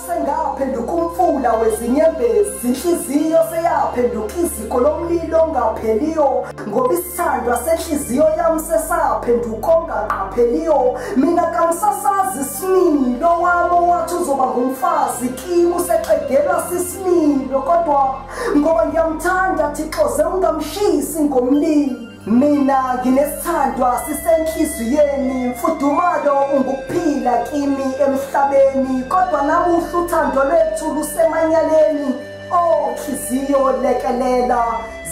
sengaphenduka umfula wezinyembezi inhliziyo seyaphenduka iziko lomlilo ongapheliyo ngoba isithandwa senhliziyo yami sesaphenduka ongaqapheliyo mina kangisasazi isimilo wami owathi uzoba ngumfazi kimi usexegelwa sisimilo kodwa ngoba ngiyamthanda thixoze ungamshisi ngomlilo Mina nginesithandwa sisenhliziyweni mfudumalo ungukuphila kimi emhlabeni kodwa namuhla uthando lwethu lusemanyaleni oh nhliziyo lekelela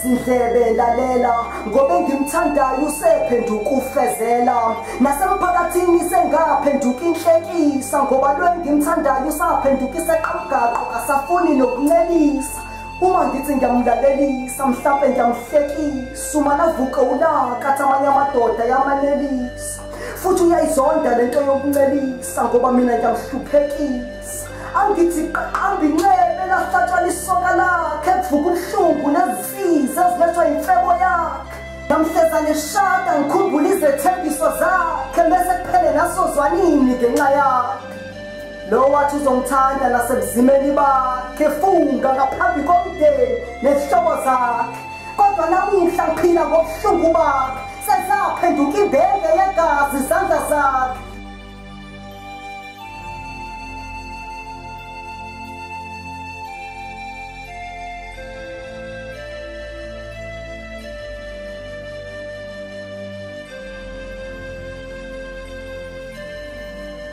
zindlebe lalela ngoba engimthandayo usephenduka ufezela nasemphakathini sengaphenduka inhlekisa ngoba lo engimthandayo usaphenduka iseqamgaqo kasafuni nokuncelisa uma ngithi ngiyamlalelisa mhlampe ngiyamhlekisa uma navuke ulaka athi amanye amadoda yamanelisa futhi uyayizonda le nto yokuncelisa ngoba mina ngiyamhluphekisa angithi qaqamba inxebe lahlatshwa lisoka lakhe kuvuka ubuhlungu nezinsizi ezilethwa yimfebo yakhe ngamhleza ngeshada ngikhumbula izethembiso zakhe bese kuphele nasozwanini ngenxa yakhe Lo wathi uzongithanda nasebuzimeni bakhe funga ngaphambi komndeni nezihlobo zakhe. Kodwa namuhla ngiphila ngobuhlungu bakhe. Sesaphenduka imbenge yegazi izandla zakhe.